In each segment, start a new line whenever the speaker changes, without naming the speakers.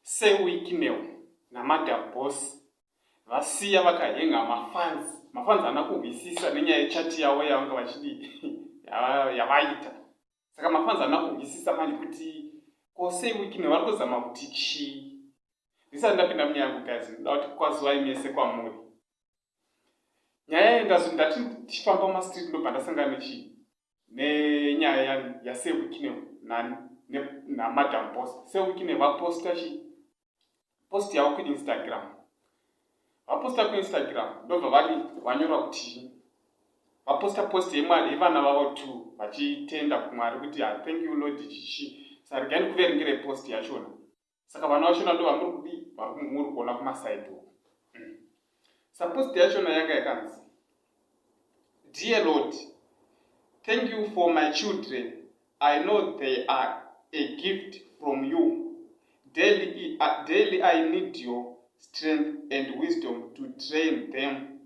sewicknel namadam boss vasiya vakahenga mafans mafans ana kuhwisisa nenyaya yechati yavo yavanga vachidi yavaita saka mafans ana kuhwisisa manje kuti ko sewicknel vari kuzama kuti chii ndisati ndapinda munyaya yangu gazi ndoda kuti kwazuvai mese kwamuri nyaya iyi ndazoti ndati ndichifamba mumastreet ndobva ndasangana nechi nenyaya ya yasewikine nani namadam bos sewikine vaposta chi post yavo kuinstagram vaposta kuinstagram ndobva vari vanyora kuti vaposta post yemwari yevana vavo t vachitenda kumwari kuti ah, thank you lord chichi saregai ndikuverengere post yachona saka vana vachona ndo vamuri kudii varimuri kuona kumasaidi uku mm. supposed yachona yanga yakanzi dear lord thank you for my children i know they are a gift from you daily, uh, daily i need your strength and wisdom to train them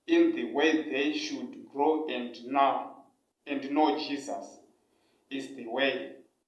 in the way they should grow and now and know jesus is the way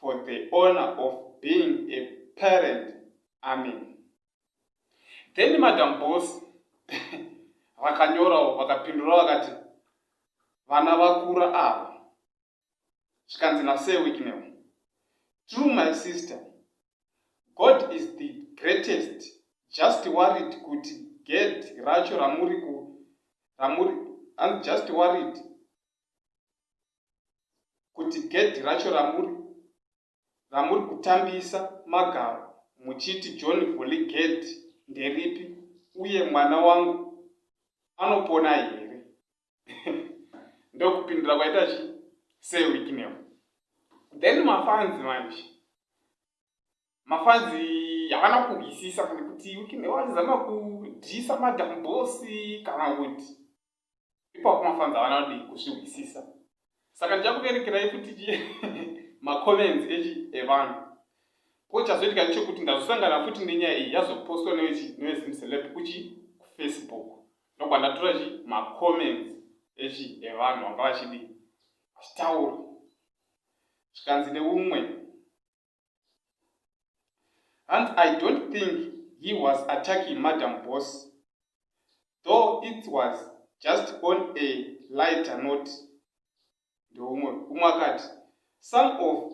for the honor of being a parent amen then madam boss vakanyorawo vakapindura vakati vana vakura ava zvikanzi nasee wiknel true my sister god is the greatest just worried kuti ged racho ramuri ku ramuri i'm just worried kuti gedhi racho ramuri ramuri kutambisa magaro muchiti john vuli gedhi nderipi uye mwana wangu anopona here ndokupindura kwaita chi sewikineo then mafanzi manje mafanzi havana kuhwisisa kana kuti wikineo achizama kudhisa madambosi kana kuti ipapo mafanzi avana kudii kuzvihwisisa saka ndichakuverekerai kuti macomments echi evanhu ko chazoitika ndechokuti ndazosangana futi nenyaya iyi yazopostwa newechi newezimceleb kuchi kufacebook ndokwa ndatora chi macomments echi evanhu vanga vachidii vachitaura zvikanzi neumwe hanzi i don't think he was attacking madam boss though it was just on a lighter note ndoumwe umwe akati some of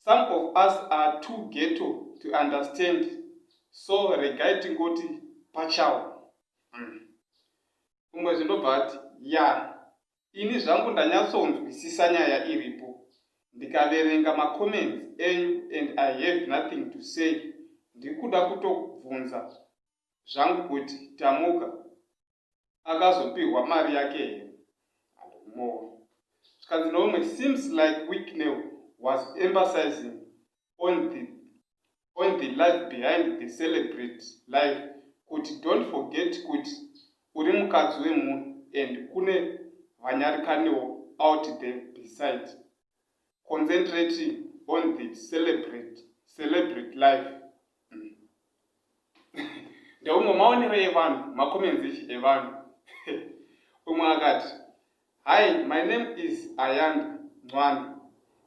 some of us are too ghetto to understand so regai tingoti pachawo hmm. umwe zvindobva ati ya Ini zvangu ndanyatsonzwisisa nyaya iripo ndikaverenga macomments enyu and I have nothing to say ndikuda kutobvunza zvangu kuti Tamuka akazopihwa mari yake here and more zvikanzi neumwe seems like Wicknell was emphasizing on the, on the life behind the celebrate life kuti don't forget kuti uri mukadzi wemunhu and kune vanyarikanewo out the beside concentrating on the celebrate celebrate life mm. ndeumwe maonero evanhu makomenzichi evanhu umwe akati hi my name is ayanda mwana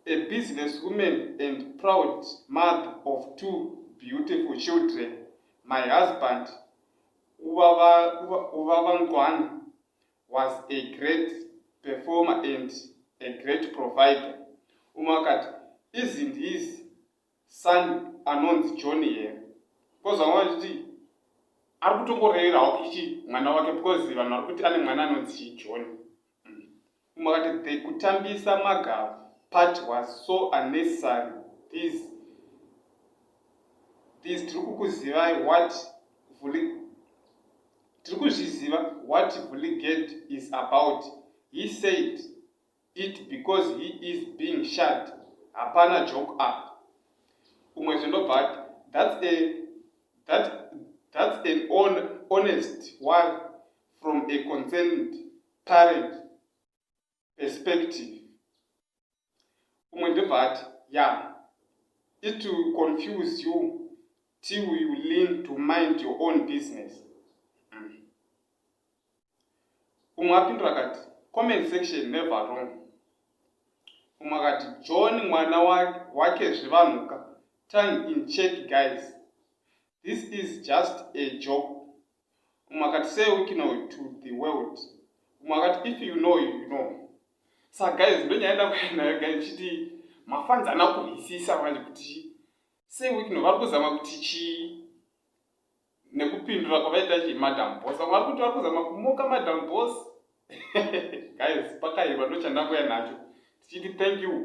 a business woman and proud mother of two beautiful children my husband uvavangwana was a great performer and a great provider umwe akati izi ndizi Son anonzi John here because vamwe vachiti ari kutongorevera hawo kichi mwana wake because vanhu vari kuti ane mwana anonzi chii John mm. umwe akati the kutambisa magava part was so unnecessary these these tiri kukuzivai what vuli tiri kuzviziva what vuligate is about he said it because he is being shut hapana joke apa umwe zvendobva ati that's a that that's an on, honest one from a concerned parent perspective umwe ndobva ati ya it will confuse you till you lean to mind your own business umwe apindura akati comment section never wrong umwe akati john mwana wake zvevanhuka time in check guys this is just a job umwe akati say wikino to the world umwe akati if you know you know sa guys ndonyaya ndakuenayo guys chiti mafanzi ana kuhwisisa manje kuti sei wikino vari kuzama kuti chii nekupindura kwavaita chii madam boss vamwe vari kuti vari kuzama kumoka madam boss guys pakaiva ndochandanguya nacho tichiti thank you